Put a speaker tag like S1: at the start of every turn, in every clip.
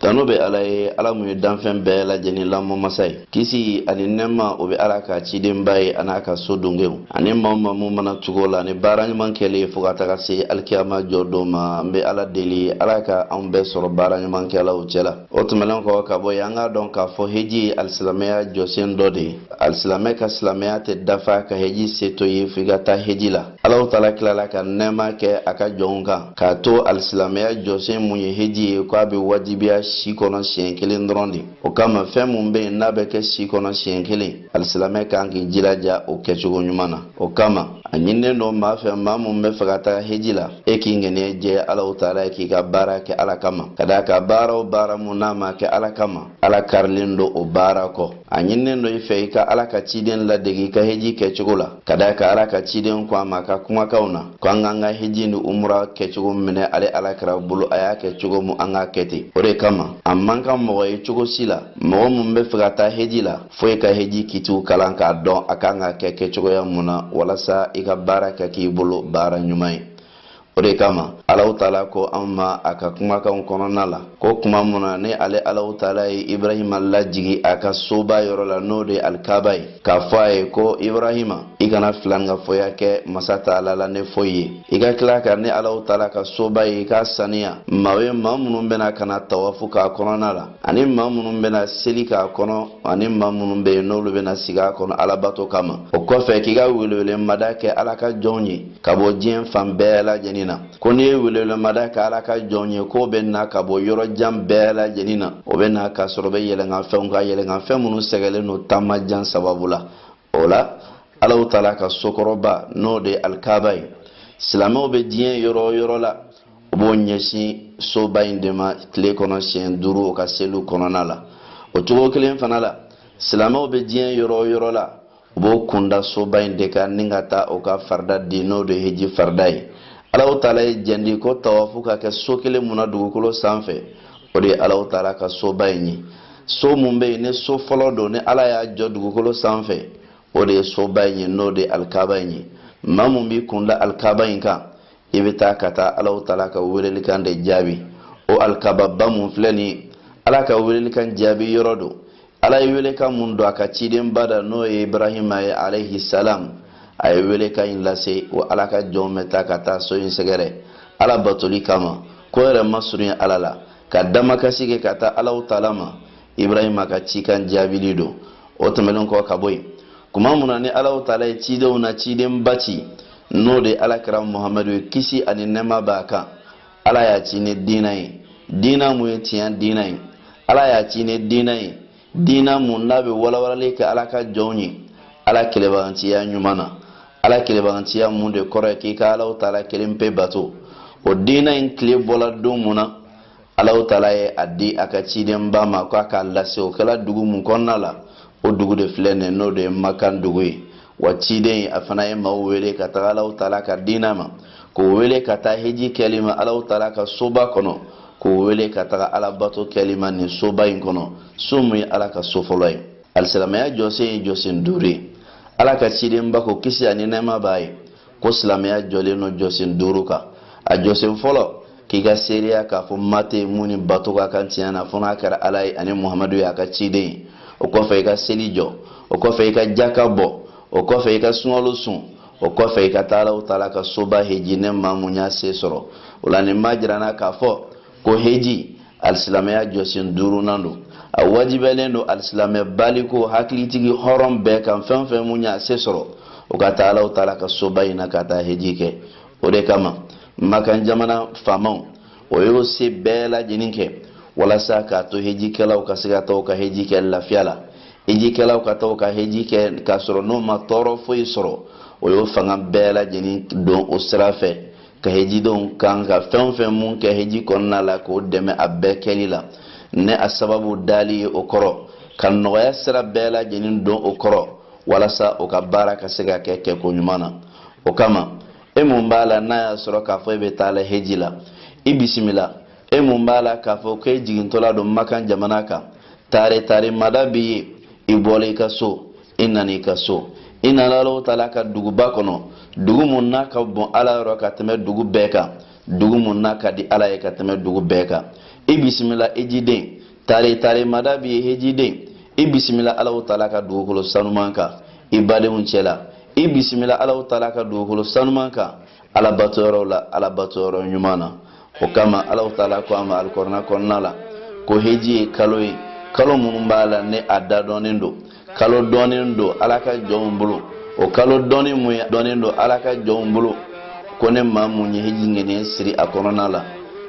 S1: tanu bɛ ala ye ala mun ye danfɛn bɛɛ lajɛlen lamɔ masa ye kisi ani nɛɛma o bɛ ala ka cidenba ye an'a ka so dungew ani maa o maa mun mana tugu o la ni baara ɲuman kɛli ye fo ka taga se alikiyama jɔ don ma n bɛ ala deli ala ka anw bɛɛ sɔrɔ baara ɲuman kɛlaw cɛ la o tɛmɛnen kɔ ka bɔ yen an k'a dɔn k'a fɔ heji ye alisilamɛya jɔsen dɔ de ye alisilamɛ ka silamɛya tɛ dafa ka heji se to ye f'i ka taa heji la alaw taala tilala ka nɛɛma kɛ a ka jɔnw kan k'a to alisilamɛya jɔsen mun ye heji ye ko a bɛ wajibiya si kɔnɔ siɲɛ kelen dɔrɔn de o kama fɛn mun bɛ yen n'a bɛ kɛ si kɔnɔ siɲɛ kelen alisilamɛ kan k'i jilaja o kɛcogo ɲuman na o kama a ɲininen don maa fɛ maa mun b'a fɛ ka taga heji la e k'i ŋaniya jɛ alaw taala ye k'i ka baara kɛ ala kama ka d'a kan baara o baara mun n'a ma kɛ ala kama ala kaarilen don o baara kɔ a ɲininen don i fɛ i ka ala ka ciden ladegi i ka heji kɛcogo la ka d'a kan ala ka ciden ko an ma a ka kumakanw na ko an k'an ka heji ni umura kɛcogo minɛ ale ala kira bolo a y'a kɛ cogo mun an k'a kɛ ten o de kama a man ka mɔgɔ ye cogo si la mɔgɔ mun b'a fɛ ka taa heji la fo i ka heji kitiw kalan k'a dɔn a kan ka kɛ kɛcogoya mun na walasa i ka baara ka k'i bolo baara ɲuman ye o de kama alaw taala ko anw ma a ka kumakanw kɔnɔna la ko kuma mun na ni ale alaw taala ye ibrahima lajigi a ka soba yɔrɔ la n'o de alikaba ye k'a fɔ a ye ko ibrahima i kana filankafoya kɛ masa taala la ni foyi ye i ka tila ka ne alaw taala ka soba ye i k'a saniya maa ye maa minnu bɛna ka na tawafu k'a kɔnɔna la ani maa minnu bɛna seli k'a kɔnɔ ani maa minnu bɛ yen n'olu bɛna sigi a kɔnɔ alabato kama o kɔfɛ k'i ka welewelemada kɛ ala ka jɔnw ye ka bɔ diɲɛ fan bɛɛ lajɛlen na ko n'i ye welewelemada kɛ ala ka jɔnw ye k'o bɛ na ka bɔ yɔrɔ jan bɛɛ lajɛlen na o bɛ na k'a sɔrɔ o bɛ yɛlɛnkanfɛnw kan yɛlɛnkanfɛn minnu sɛgɛlen don taama jan sababu la o la alaw taala ka sokɔrɔba n'o de ye alikaba ye silamɛw bɛ diɲɛ yɔrɔ o yɔrɔ la u b'o ɲɛsin soba in de ma tile kɔnɔ siɲɛ duuru o ka seliw kɔnɔna la o cogo kelen fana la silamɛw bɛ diɲɛ yɔrɔ o yɔrɔ la u b'o kunda soba in de kan ni ka taa o ka farida di n'o de heji farida ye alaw taala ye jandi ko tawafu ka kɛ so kelen mun na dugukolo sanfɛ o de ye alaw taala ka soba in ye so mun bɛ yen ni so fɔlɔ don ni ala y'a jɔ dugukolo sanfɛ o de ye soba in ye n'o de ye alikaba in ye maa mun b'i kunda alikaba in kan i bɛ taa ka taa alaw taala ka welelikan de jaabi o alikababa mun filɛ nin ye ala ka welelikan jaabi yɔrɔ don ala ye welekan mun don a ka cidenba da n'o ye ibrahima ye alayhi salam a ye welekan in lase wa ala ka jɔnw bɛ taa ka taa so in sɛgɛrɛ ala batoli kama k'o yɛrɛ masurunya ala la ka damakasi kɛ ka taa alaw taala ma ibrahima ka cikan jaabili don o tɛmɛnen kɔ ka bɔ yen kuma mun na ni alahu taala ye cidenw na cidenba ci n'o de ye ala kira muhamadu ye kisi ani nɛɛma b'a kan ala y'a ci ni diina ye diina mun ye tiɲɛ diina ye ala y'a ci ni diina ye diina mun n'a bɛ walawalali kɛ ala ka jɔnw ye ala kelenbaganciya ɲuman na ala kelenbaganciya mun de kɔrɔ ye k'i ka alahu taala kelen pe bato o diina in tile bɔla don mun na alahu taala ye a di a ka cidenba ma ko a k'a lase o kɛla dugu mun kɔnɔna la o dugu de filɛ nin n'o de ye makan dugu ye wa ciden a fana ye maaw wele ka taga alahu taala ka diina ma k'o wele ka taa heji kɛli ma alahu taala ka soba kɔnɔ k'o wele ka taga alabato kɛli ma nin soba in kɔnɔ so mun ye ala ka so fɔlɔ ye alisilamɛya jɔsen ye jɔsen duuru ye ala ka cidenba ko kisi ani nɛɛma b'a ye ko silamɛya jɔlen don jɔsen duuru kan a jɔsen fɔlɔ k'i ka seereya k'a fɔ ma tɛ mun ni bato ka kan tiɲɛ na fo n'a kɛra ala ye ani muhamadu y'a ka ciden ye o kɔfɛ i ka seli jɔ o kɔfɛ i ka jaka bɔ o kɔfɛ i ka sunkalo sun o kɔfɛ i ka taa alahu taala ka soba heji ni maa mun y'a se sɔrɔ o la nin b'a jira an na k'a fɔ ko heji alisilamɛya jɔsen duurunan don a wajibɛlen don alisilamɛ baliku hakilitigi hɔrɔn bɛɛ kan fɛn o fɛn mun y'a se sɔrɔ o ka taa alahu taala ka soba in na ka taa heji kɛ o de kama makan jamana faamaw o y'o se bɛɛ lajɛlen kɛ walasa k'a to hejikɛlaw ka se ka taa u ka heji kɛ lafiya la hejikɛlaw ka taa u ka heji kɛ k'a sɔrɔ n'o ma tɔɔrɔ foyi sɔrɔ o y'o fanga bɛɛ lajɛlen don o sira fɛ ka hejidenw kan ka fɛn o fɛn mun kɛ heji kɔnɔna la k'o dɛmɛ a bɛɛ kɛli la ni a sababu dali ye o kɔrɔ ka nɔgɔya sira bɛɛ lajɛlen don o kɔrɔ walasa o ka baara ka se ka kɛ kɛko ɲuman na o kama e mun b'a la n'a y'a sɔrɔ k'a fɔ e bɛ taa la heji la i bisimila e mun b'a la k'a fɔ k'e jigintɔla don makan jamana kan taare taare mada b'i ye i bɔla i ka so i nana i ka so i nana alahu taala ka duguba kɔnɔ dugu mun n'a ka bon ala yɔrɔ ka tɛmɛ dugu bɛɛ kan dugu mun n'a ka di ala ye ka tɛmɛ dugu bɛɛ kan i bisimila hejiden taare taare mada b'i ye hejiden i bisimila alahu taala ka dugukolo sanuman kan i badenw cɛla i bisimila alahu taala ka dugukolo sanuman kan alabato yɔrɔw la alabato yɔrɔ ɲuman na o kama alahu taala ko an ma alikurana kɔnɔna la ko heji ye kalo ye kalo minnu b'a la ni a da dɔnnen don kalo dɔnnen don ala ka jɔnw bolo o kalo dɔnnen mun ye dɔnnen don ala ka jɔnw bolo ko ni maa mun ye heji ŋaniya siri a kɔnɔna la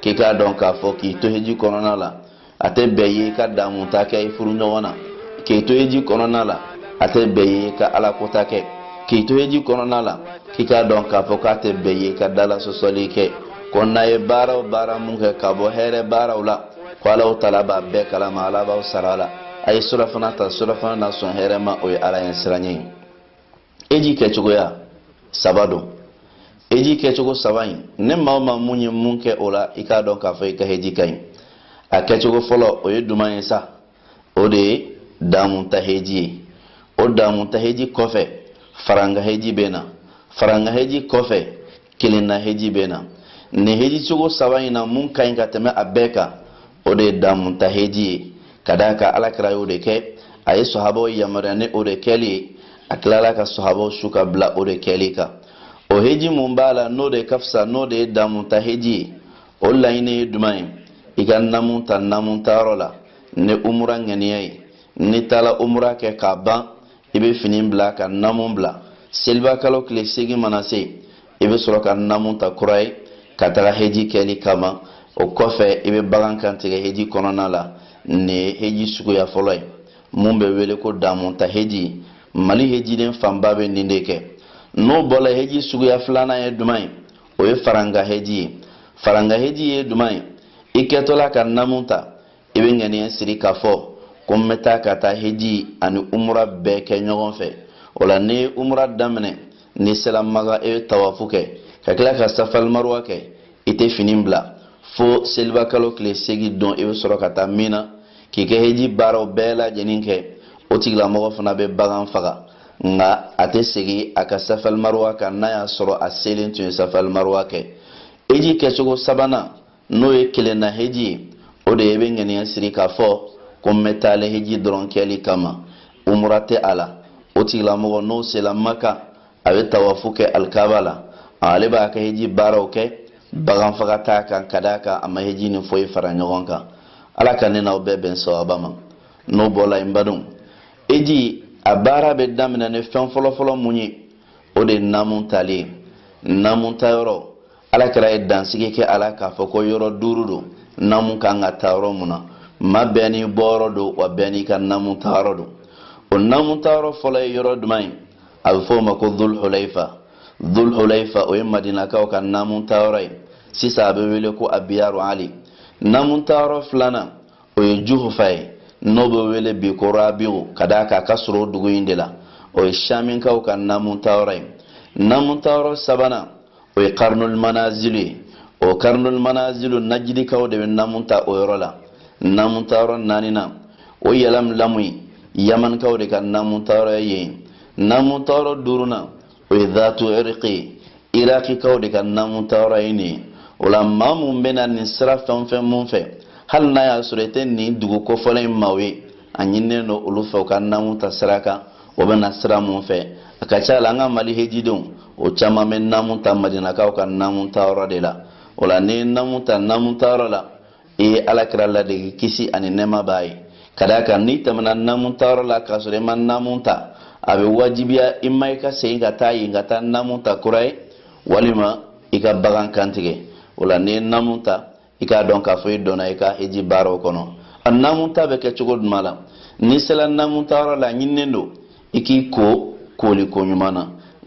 S1: k'i k'a dɔn k'a fɔ k'i to heji kɔnɔna la a tɛ bɛn i ka damuta kɛ i furuɲɔgɔn na k'i to heji kɔnɔna la a tɛ bɛn i ka alakota kɛ k'i to heji kɔnɔna la k'i k'a dɔn k'a fɔ k'a tɛ bɛn i ka dalasɔsɔli kɛ ko n'a ye baara o baara mun kɛ ka bɔ hɛrɛ baaraw la ko alahu taala b'a bɛɛ kalama ala b'aw sara la a ye sirafana ta sirafana na sɔn hɛrɛma o ye ala ɲɛsiranɲɛ ye heji kɛcogoya saba don heji kɛcogo saba in na maa o maa mun ye mun kɛ o la i k'a dɔn k'a fɔ i ka heji ka ɲi a kɛcogo fɔlɔ o ye duman ye sa o de ye damuta heji ye o damuta heji kɔfɛ faranga heji bɛ na faranga heji kɔfɛ kelenna heji bɛ na nin heji cogo saba in na mun ka ɲi ka tɛmɛ a bɛɛ kan o de ye damuta heji ye ka d'a kan alakira y'o de kɛ a ye sahabaw yamaruya ni o de kɛli ye a tilala ka sahabaw su ka bila o de kɛli kan o heji mun b'a la n'o de ka fisa n'o de ye damuta heji ye o laɲini ye duman ye i ka namu ta namu tayɔrɔ la ni umura ŋaniya ye n'i taara umura kɛ k'a ban i bɛ fini bila ka namu bila seliba kalo tile seegin mana se i bɛ sɔrɔ ka namu ta kura ye ka taga heji kɛli kama o kɔfɛ i bɛ bagan kantigɛ heji kɔnɔna la nin ye heji suguya fɔlɔ ye mun bɛ wele ko damuta heji mali hejiden fanba bɛ nin de kɛ n'o bɔla heji suguya filanan ye duman ye o ye faranga heji ye faranga heji ye duman ye i kɛtɔla ka namu ta i bɛ ŋaniya siri k'a fɔ ko n bɛ taa ka taa heji ani umura bɛɛ kɛ ɲɔgɔn fɛ o la n'i ye umura daminɛ n'i sera maka i bɛ tawafu kɛ ka tila ka safalimaruwa kɛ i tɛ fini bila fo selibakalo tile seegin don i bɛ sɔrɔ ka taa mina k'i ka heji baaraw bɛɛ lajɛlen kɛ o tigilamɔgɔ fana bɛ bagan faga nka a tɛ segin a ka safalimaruwa kan n'a y'a sɔrɔ a selen tun ye safalimaruwa kɛ heji kɛcogo sabanan n'o ye kelenna heji ye o de ye i bɛ ŋaniya siri k'a fɔ ko n bɛ taa lɛhiji dɔrɔn kɛli kama umura tɛ a la o tigilamɔgɔ n'o sela maka a bɛ tawafu kɛ alikaba la ale b'a ka heji baaraw kɛ bagan faga t'a kan ka d'a kan a ma heji ni foyi fara ɲɔgɔn kan ala ka ne n'aw bɛɛ bɛn sawaba ma n'o bɔla yen badenw heji a baara bɛ daminɛ ni fɛn fɔlɔfɔlɔ mun ye o de ye namu tali ye namu tayɔrɔ alakira ye dansigi kɛ a la k'a fɔ ko yɔrɔ duuru don namu ka kan ka ta yɔrɔ mun na maa bɛɛ n'i bɔyɔrɔ don wa bɛɛ n'i ka namu tayɔrɔ don o namu tayɔrɔ fɔlɔ ye yɔrɔ duman ye a bɛ fɔ o ma ko dulhulaifa dulhulaifa o ye madinakaw ka namu tayɔrɔ ye sisan a bɛ wele ko abiyaru ali namu tayɔrɔ filanan o ye juhufa ye n'o bɛ wele bi ko rabiu ka d'a kan a ka surun o dugu in de la o ye saminkaw ka namu tayɔrɔ ye namu tayɔrɔ sabanan o ye karnul manazilu ye o karnul manazilu najidikaw de bɛ namu ta o yɔrɔ la namu ta yɔrɔ naaninan o yalamlamu ye yamanikaw de ka namu ta yɔrɔ ye yen namu ta yɔrɔ duurunan o ye dhatu irqi ye irakikaw de ka namu ta yɔrɔ ye nin ye o la maa mun bɛ na nin sira fɛn o fɛn mun fɛ hali n'a y'a sɔrɔ i tɛ nin dugu kofɔlen in maaw ye a ɲinilen don olu fɛ u ka namu ta sira kan u bɛ na sira mun fɛ a ka ca la an ka mali hejidenw o caman bɛ namu ta madinakaw ka namu ta yɔrɔ de la o la n'i ye namu ta namu ta yɔrɔ la i ye alakira ladege kisi ani nɛɛma b'a ye ka d'a kan n'i tɛmɛna namu ta yɔrɔ la k'a sɔrɔ i ma namu ta a bɛ wajibiya i ma i ka segin ka taa yen ka taa namu ta kura ye walima i ka bagan kantigɛ o la n'i ye namu ta i k'a dɔn k'a fɔ i donna i ka hiji baaraw kɔnɔ a namunta bɛ kɛ cogo jumɛn la n'i sera namunta yɔrɔ la a ɲininen don i k'i ko kooli ko ɲuman na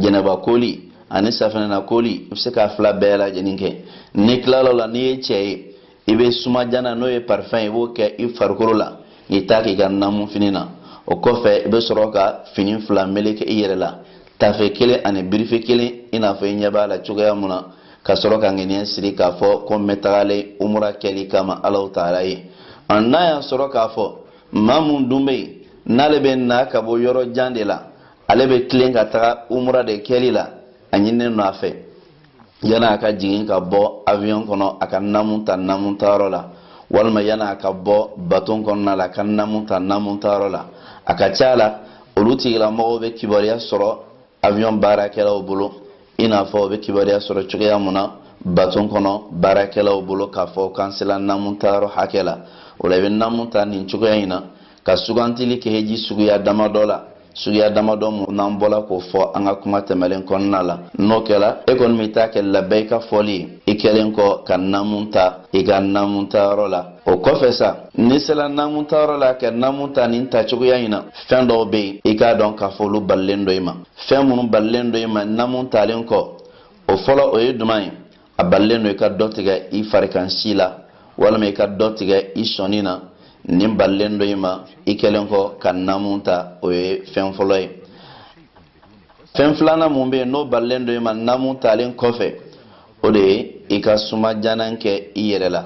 S1: janaba kooli ani safinɛ na kooli i bɛ se k'a fila bɛɛ lajɛlen kɛ n'i tilal'o la n'i ye cɛ ye i bɛ sumadiyalan n'o ye parifɛn ye i b'o kɛ i farikolo la k'i t'a k'i ka namu fini na o kɔfɛ i bɛ sɔrɔ ka fini fila meleke i yɛrɛ la tafe kelen ani birifɛn kelen i n'a fɔ i ɲɛ b'a la cogoya mun na ka sɔrɔ ka ŋaniya siri k'a fɔ ko n bɛ tagalen umura kɛli kama ala taala ye an n'a y'a sɔrɔ k'a fɔ maa mun dun bɛ yen n'ale bɛ na ka bɔ yɔrɔ jan de la ale bɛ tilen ka taga umura de kɛli la a ɲininen don a fɛ yani a ka jigin ka bɔ avion kɔnɔ a ka namu ta namu tayɔrɔ la walima yani a ka bɔ baton kɔnɔna la a ka namu ta namu tayɔrɔ la a ka ca la olu tigilamɔgɔw bɛ kibaruya sɔrɔ avion baarakɛlaw bolo i n'a fɔ u bɛ kibaruya sɔrɔ cogoya mun na baton kɔnɔ baarakɛlaw bolo k'a fɔ k'an sela namu tayɔrɔ hakɛ la o la i bɛ namu ta nin cogoya in na ka sugantili kɛ heji suguya damadɔ la suguya damadɔ mun n'an bɔla k'o fɔ an ka kuma tɛmɛlen kɔnɔna la n'o kɛla e kɔni b'i ta kɛ labayika fɔli ye i kɛlen kɔ ka namu ta i ka namu ta yɔrɔ la o kɔfɛ sa n'i sela naamu tayɔrɔ la ka naamu ta nin ta cogoya in na fɛn dɔw bɛ yen i k'a dɔn k'a fɔ olu balilen don i ma fɛn minnu balilen don i ma naamu talen kɔ o fɔlɔ o ye jumɛn ye a balilen don i ka dɔ tigɛ i farikan si la walima i ka dɔ tigɛ i sɔnin na nin balilen don i ma i kɛlen kɔ ka naamu ta o ye fɛn fɔlɔ ye fɛn filanan mun bɛ yen n'o balilen don i ma namu talen kɔfɛ o de ye i ka sumadiyalan kɛ i yɛrɛ la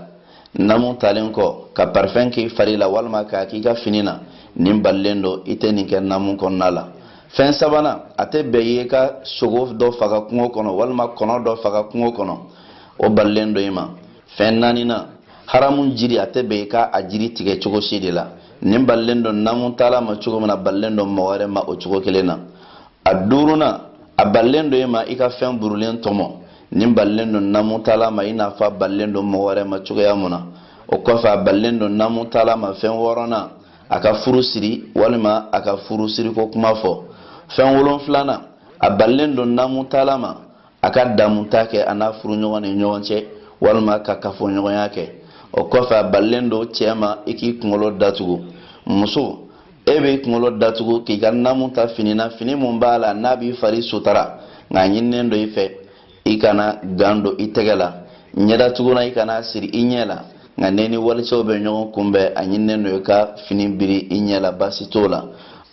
S1: namu talen kɔ ka parifɛn k'i fari la walima k'a k'i ka fini na nin balilen don i tɛ nin kɛ namu kɔnɔna la fɛn sabanan a tɛ bɛn i ye i ka sogo dɔ faga kungo kɔnɔ walima kɔnɔ dɔ faga kungo kɔnɔ o balilen don i ma fɛn naaninan haramu jiri a tɛ bɛn i ka a jiri tigɛ cogo si de la nin balilen don namu taala ma cogo min na a balilen don mɔgɔ wɛrɛ ma o cogo kelen na a duurunan a balilen don e ma i ka fɛn burulen tɔmɔ nin balilen don namu taala ma i n'a fɔ a balilen don mɔgɔ wɛrɛ ma cogoya mun na o kɔfɛ a balilen don namu taala ma fɛn wɔɔrɔnan a ka furu siri walima a ka furu siriko kuma fɔ fɛn wolonfilanan a balilen don namu taala ma a ka damuta kɛ a n'a furuɲɔgɔn ni ɲɔgɔn cɛ walima ka kafoɲɔgɔnya kɛ o kɔfɛ a balilen don cɛ ma i k'i kunkolo datugu muso e b'i kunkolo datugu k'i ka namu ta fini na fini min b'a la n'a b'i fari sutara nka a ɲininen don i fɛ i kana gan don i tɛgɛ la ɲɛdatugulan i kana siri i ɲɛ la nka n'e ni walicɛw bɛ ɲɔgɔn kunbɛn a ɲininen don i ka fini biri i ɲɛ la baasi t'o la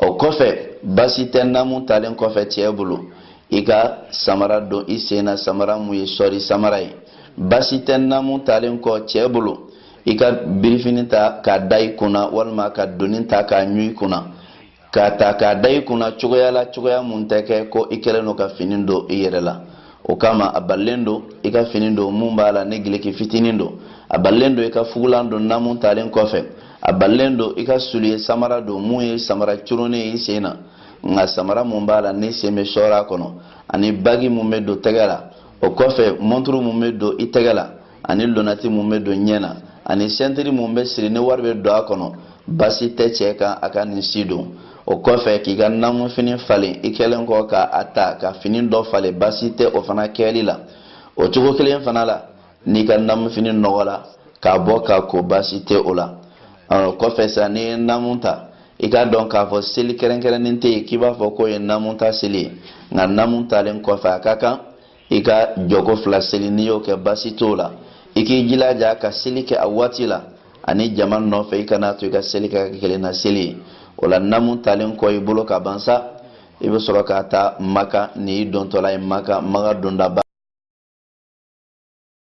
S1: o kɔfɛ baasi tɛ namu talen kɔfɛ cɛ bolo i ka samara don i sen na samara mun ye sɔri samara ye basi tɛ namu talen kɔ cɛɛ bolo i ka birifini ta k'a da i kunna walima ka doni ta k'a ɲu i kunna k'a ta k'a da i kunna cogoya la cogoya mun tɛ kɛ ko i kɛlen don ka fini don i yɛrɛ la o kama a balilen don i ka fini don mun b'a la ni gileki fitinin don a balilen don i ka fugulan don namu talen kɔfɛ a balilen don i ka suliye samara don mun ye samara cɔrɔn ye i sen na nka samara mun b'a la n'i sen bɛ sɔɔrɔ a kɔnɔ ani bagi mun bɛ don tɛgɛ la o kɔfɛ mɔnturu mun bɛ don i tɛgɛ la ani lonati mun bɛ don ɲɛ na ani sɛntiri mun bɛ siri ni wari bɛ don a kɔnɔ basi tɛ cɛ kan a ka nin si don o kɔfɛ k'i ka namunfini falen i kɛlen kɔ ka a ta ka fini dɔ falen basi tɛ o fana kɛli la o cogo kelen fana la n'i ka namu fini nɔgɔla k'a bɔ k'a ko baasi tɛ o la o kɔfɛ sa n'i ye namu ta i k'a dɔn k'a fɔ seli kɛrɛnkɛrɛnnen tɛ yen k'i b'a fɔ k'o ye namu ta seli ye nka namu talen kɔfɛ a ka kan i ka jɔko fila seli n'i y'o kɛ baasi t'o la i k'i jilaja ka seli kɛ a waati la ani jama nɔfɛ i kana to i ka seli kɛ ka kelen na seli ye o la namu talen kɔ i bolo ka ban sa i bɛ sɔrɔ ka taa maka ni i dontɔla ye maka maka dondaba